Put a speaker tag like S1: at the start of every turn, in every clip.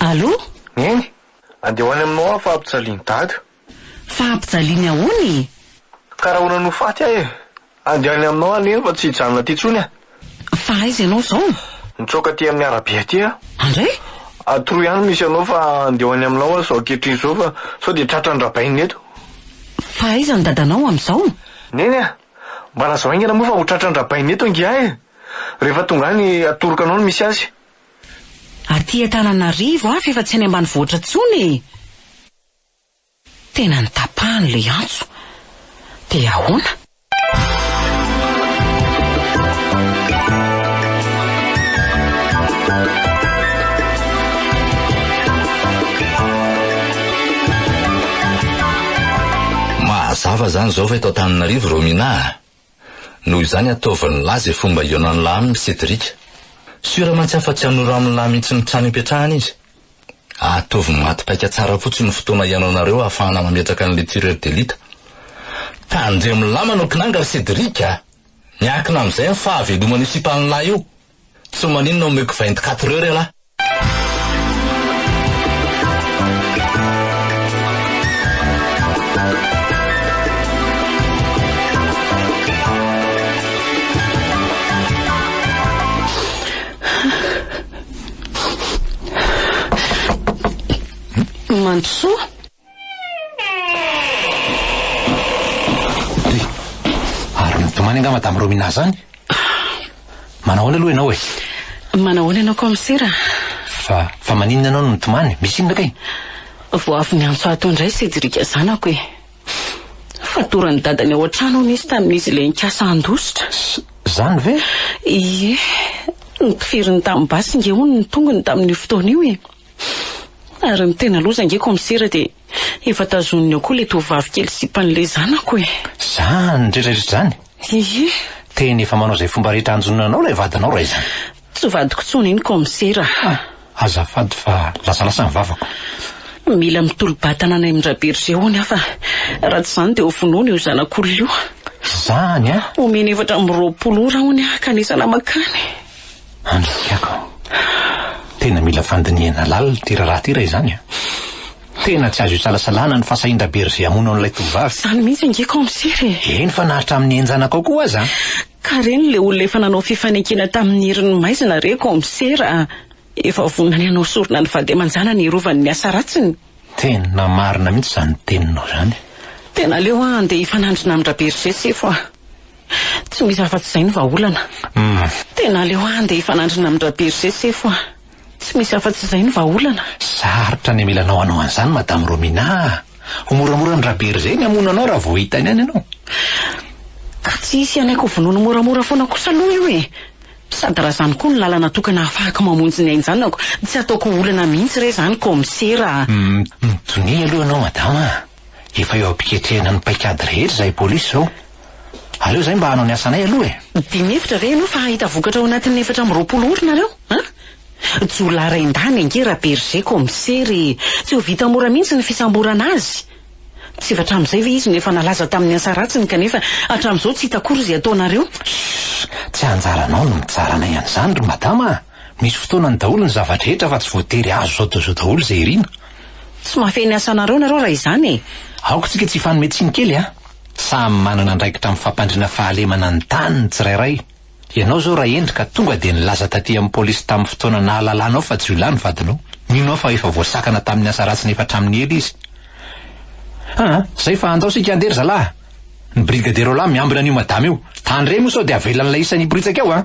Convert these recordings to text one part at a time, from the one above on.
S1: Allo? Neny,
S2: andeha ho any aminao aho fa ampijalian'i Dada. Fa
S1: ampijaliany ahoana e? Ka raha ahoana
S2: no ho faty aho e? Andeha any aminao aho Neny fa tsy hijanona aty intsony aho. Fa aiza ianao
S1: izao? Nitsoaka aty amin'ny
S2: arabe aty aho. Andray?
S1: Atroy ihany no
S2: misy anao fa andeha ho any aminao aho izao ankehitriny izao fa sao dia tratran-dRabainina eto. Fa aiza
S1: ny Dadanao amin'izao? Neny a!
S2: Mba lazao haingana moa fa ho tratran drabaina eto ngiahy e! Rehefa tonga any atoroka anao ny misy azy.
S1: Aty Antananarivo aho f'efa tsy any ambanivohitra intsony e! Tena notapahany ilay antso. Dia ahoana?
S3: Mahazava zany zao fa eto Antananarivo Romina a! Noho izany ataovy ny lahy ze fomba ionan'ny lahy aminy Cedric. Sur mantsy afa tsy hanoro aminy lahy mintsy ny trano ipetrahany izy. Ataovy maty paika tsara fotsiny ny fotoana ianaonareo ahafahana mametraka anle tireur d'elite. Tandremo lama no kinanga ry Cedric a! Miankina amizay ny fahaveloman'io sipan'ny lahy io. Tsy maninona omeko vingt quatre heures ialahy.
S1: Mandrosoa.
S4: Ary mitomany angamba madame Romina zany? Manao ahoana aloha ianao e? Manao ahoana ianao
S1: kaomisera? Fa fa
S4: maninona ianao no mitomany? Misy inona kay? Vao avy
S1: niantso ahy tao indray Cédric zanako e. Fatoran'ny dadany ao an-trano hono izy tamin'izy ilay nikasa handositra. Zany ve?
S4: Ie.
S1: Notifirin'ny tanin'ny basy nge hono ny tongony tamin'io fotoana io e. Ary ny tena loza ange Kaomisera dia efa tazoniny ao koa ilay tovovavy kely sipan'ilay zanako e! Izany rehetrarehetra
S4: izany? Ie!
S1: Tena efa manao
S4: izay fomba rehetra hanjonoana anao ilay vadinao raha izany? Tsy vadiko intsony
S1: iny Kaomisera a! Azafady
S4: fa lasalasa ny vavako. Mila
S1: mitolo-batana any amin-dRabergé hono aho fa raha tsy izany dia ho vonoina io zanak'olona io. Izany
S4: an! Omeny efatra amby roapolo
S1: ora hono aho ka anisana mankany. Andrisihako
S4: an! Tena mila fandinihana lalina ity raharaha ity raha izany an! Tena tsy azo isalasalana ny fahasahian-dRaberger hamono an'ilay tovovavy. Izany mihitsy ange
S1: Kaomisera e! Eny fa na hatramin'ny
S4: henjanaka ao koa aza an! Ka reny ilay
S1: olona efa nanao fifanekena tamin'ny herin'ny maizina re Kaomisera a! Efa vonona ny hanao sorona ny vady aman-janany hiarovany ny asa ratsiny. Tena
S4: marina mihitsy izany teninao izany. Tena aleo aho
S1: handeha hifanandrina amin-dRaberger sefo a! Tsy misy afa-tsy izay ny vahaolana. Tena aleo handeha hifanandrina amin-dRaberger sefo a! Tsy misy afa-tsy izay ny vahaolana. Sarotra ny
S4: amilanao hanao an'izany Madame Romina a! Ho moramora an-dRaberger ny hamono anao raha vao hitany any ianao.
S1: Ka tsy hisy hanaiky ho vonoiny moramora foana kosa aloha io e! Sady raha izany koa no lalana tokana hahafahako mamonjy ny ain-janako, tsy hataoko ho olana mihitsy re izany Kaomisera a! Mitonia
S4: aloha ianao Madama a! Efa eo am-piketrehana ny paikady rehetra izahay polisy izao. Aleo izahay mba hanao ny asanay aloha e! Dimy efitra ve ianao fa hahita vokatra ao anatin'ny efatra amby roapolo ora nareo an? Jiolahy
S1: rain-dany ange Rabergé Commissaire e! Tsy ho vita mora mihitsy ny fisamborana azy. Tsy efa hatramin'izay ve izy no efa nalaza tamin'ny asa ratsiny kanefa hatramin'izao tsy hita akory izay ataonareo? Shh! Tsy
S4: anjaranao ny mitsara anay an'izany ry Madama a! Misy fotoanany daholo ny zava-drehetra fa tsy voatery azo zao dia zao daholo izay irina. Tsy mahafehy ny
S1: asanareo nareo raha izany e! Aoka tsika tsy hifanome
S4: tsiny kely a! Samy manana andraikitra amin'ny fampandriana fahalemana ny tany ny tsirairay. Ianao izao Rahendry ka tonga dia nilaza taty amin'ny polisy tamin'ny fotoana nahalalanao fa jiolahy ny vadinao. Mino aho fa efa voasakana tamin'ny asa ratsiny efa hatramin'ny ela izy. Aa! Izay fa andao isika handeha ry zalahy! Ny brigadierolahy miambina an'io madama io. Tandremo sao dia avelan'ilay isan'ny hiporitsaka eo a!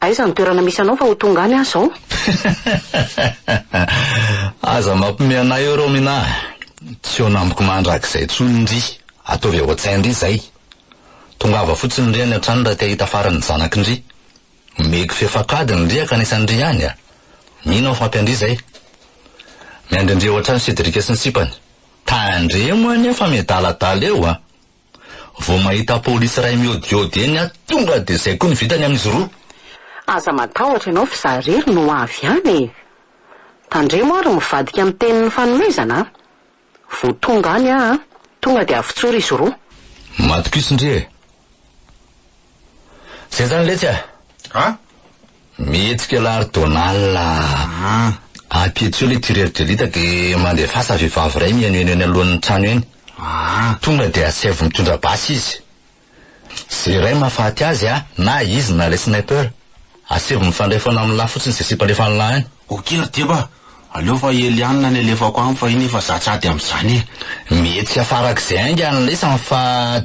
S3: Aiza ny
S1: toerana misy anao fa ho tonga any aho zao?
S3: Aza mampime anay eo Romina a! Tsy eo namiko mandrakizay tsony ndry! Ataovy ao an-tsain ndry zay! Tongava fotsiny ndry any an-trano raha te hahita faran'ny zanaky ndry! Omeko fefankadiny ndry hankanesa ndry any a! Mino aho fa ampy an-dry zay! Miandry an-dry ao an-trano Cédric sy ny sipany! Tandremo anie fa miadaladala eo a! Vao mahita polisy iray miodiody eny aho tonga dia izay koa ny vitany amin'izy roa. Aza
S1: matahotra ianao f'izaho irery no ho avy any e! Tandremo ary mivadika amin'ny tenin'ny fanomezana a! Vao tonga any aho a! Tonga dia avotsory izy roa. Matokiso ndry
S3: e! Zay zany letsy a. A?
S5: Mihetsika
S3: la ry Donald a. Ah. Ampiditso le tireur de lite de mandefasa vehivavy iray mihaino eny eny alohan'ny trano eny. Ah. Tonga de asaivo mitondra basy izy. Ze iray mahafaty azy a, na izy na le sniper. Asevo mifandray foana amin'lah fotsiny izay sipa alefan'lah any. Ok ry Deba a!
S5: Aleo fa i Eliana no alefako any fa iny efa za tsy ady amin'izany e! Mety hiafarak'izay
S3: ainga ny lesany fa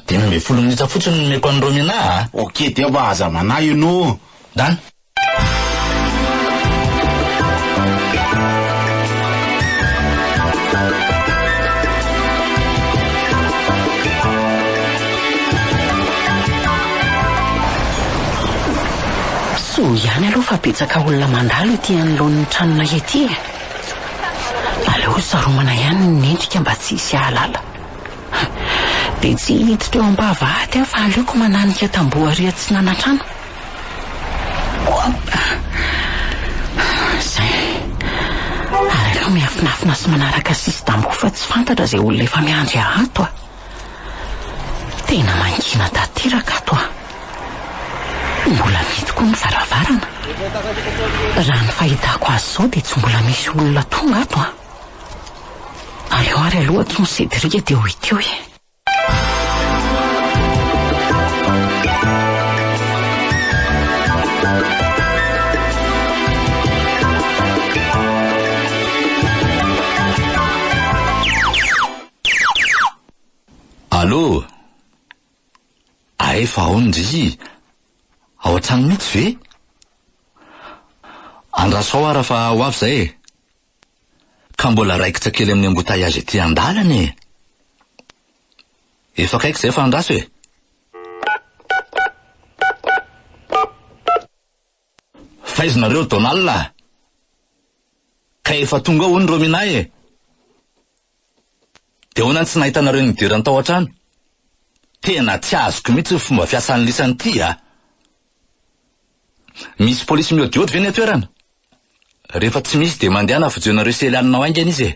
S3: dimy ambin'ny folo minitra fotsiny no omeko an'i Romina a! Ok Deba a! Aza
S5: manahy hono o! Done!
S1: Soa ihany aloha fa betsaka olona mandalo ety anoloan'ny tranonay ety e! Aleo saromana ihany ny endrika mba tsy hisy hahalala. Dia tsy hiditra eo am-pahavahaty aho fa aleoko mananika tamboho ary atsinana trano. Oop! Izay. Ary aleo miafinafina sy manaraka sisin-tamboho fa tsy fantatra izay olona efa miandry ato a! Tena mangina tanteraka ato a! Mbola mety koa ny varavarana. Raha ny fahitako azy izao dia tsy mbola misy olona tonga ato a! Aleo ary aloha antsoy Cédric dia ho ity hoe.
S3: Allo! Ae fa aon ndry! Ao an-trano mihitsy ve? Andraso ao ara fa ho avy izay e! Ka mbola raikitra kely amin'ny embouteillage ety an-dalana e! Efa akaiky izay fa andraso e! Fa aiza nareo Donald a? Ka efa tonga ao hono Romina e! Dia ahoana ny tsy nahitanareo ny idirany tao an-trano? Tena tsy azoko mihitsy ny fomba fiasan'ny lisany ity a! Misy polisy miodiody ve ny an-toerana? Rehefa tsy misy dia mandehana fojoinareo sely any nao haingana izy e!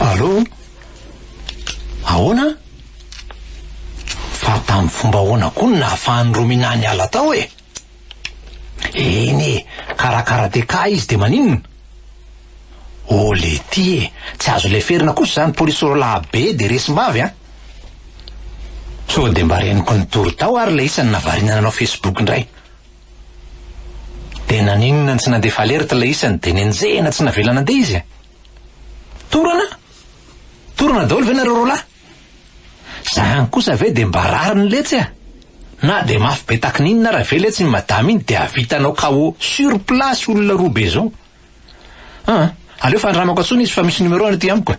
S4: Allo? Ahoana? Fa tamin'ny fomba ahoana koa no nahafahan'i Romina niala tao e? Eny e, karakara DK izy dia maninona? Ô Lety e, tsy azo leferina kosa izany polisy roalahy be dia resim-bavy an! Sao dia mba reniko nitory tao ary ilay isany navariana nanao Facebook indray. Dia naninona tsy nandefa alerte ilay isany dia nenjehina tsy navela nandeha izy e? Torana? Torana daholo ve nareo roalahy? Zany kosa ve dia mba rariny letsy a? Na dia mafy be takininona ara ve letsy iny madama iny dia havitanao KO sur place olona roa be zao? An! aleo fandramako antsony izy fa misy numerony aty amiko e!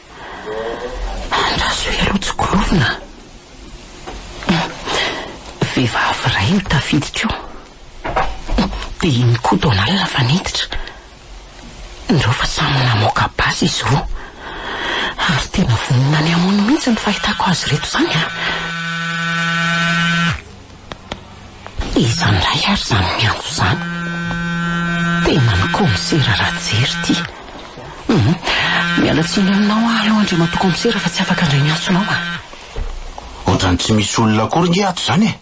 S1: Andraso ireo tsy gorovina a! Vehivavy iray no tafiditra eo. Dia iny koa Donald fa niditra. Indreo fa samy namoaka basy izy roa. Ary tena vonona ny hamono mihitsy ny fahitako azy ireto izany a! Iza ndray ary zany miantso zany? Tenany kaomisera Rajery ty hum miala tsiny aminao aho aloha Andriamatoa kaomisera fa tsy afaka ndray ny antsonao a.
S5: Otrany tsy misy olona akory nge ato zany e!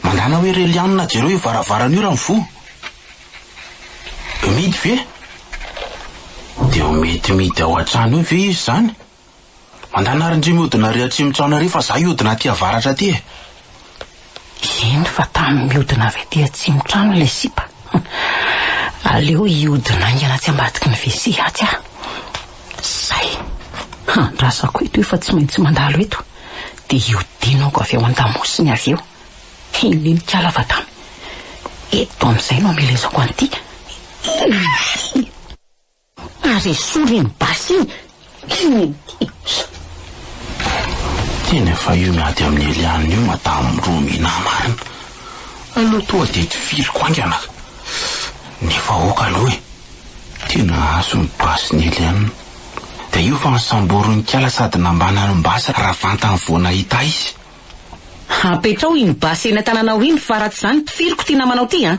S5: Mandana hoe re Lianina jereo io varavarana io raha mivoha. Midy ve? Dia ho midididy ao an-trano eo ve izy zany? Mandana ary ndry mihodina ary atsimo tsy aona ary fa za hihodina aty avaratra aty e.
S1: Eny fa tamy mihodina avy aty atsimo trano ilay sipa. Aleo hihodina haingana atsy ambadiky ny WC atsy aho. Zay. Handrasako eto efa tsy maintsy mandalo eto dia hihodinako avy ao an-damosiny avy eo. Eny nikala fa tamy eto amizay no amelezako an'ity. Ary esory iny basy iny Kennedy.
S5: Tena efa io miady amin'i Eliane io madame Romina marina. Aleo toa dia tifiriko haingana ka. Ny vahoaka aloha e. Tena hahazo ny basin'i Eliane. Dia io fa nosamborin'ikala sady nambanany ny basy raha vantany vao nahita izy.
S1: Apetraho iny basy eny an-tananao iny fa raha tsy izany tifiriko ity namanao ity an.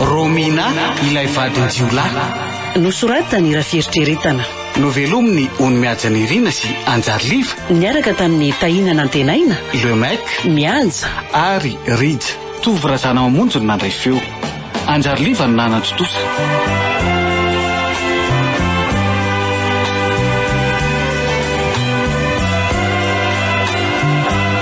S6: Romina ilay vadin-jiolahy. Nosoratany raha
S1: fieritreretana. Novelomin'i
S6: Ony Mihaja Nirina sy Anjary Liva. Niaraka tamin'i
S1: Tahina Nantenaina. Le Mec.
S6: Mihaja.
S1: Ary
S6: Rija. Tovo Razanamamonjy no nandray feo. Anjary Liva no nanan-tontosa.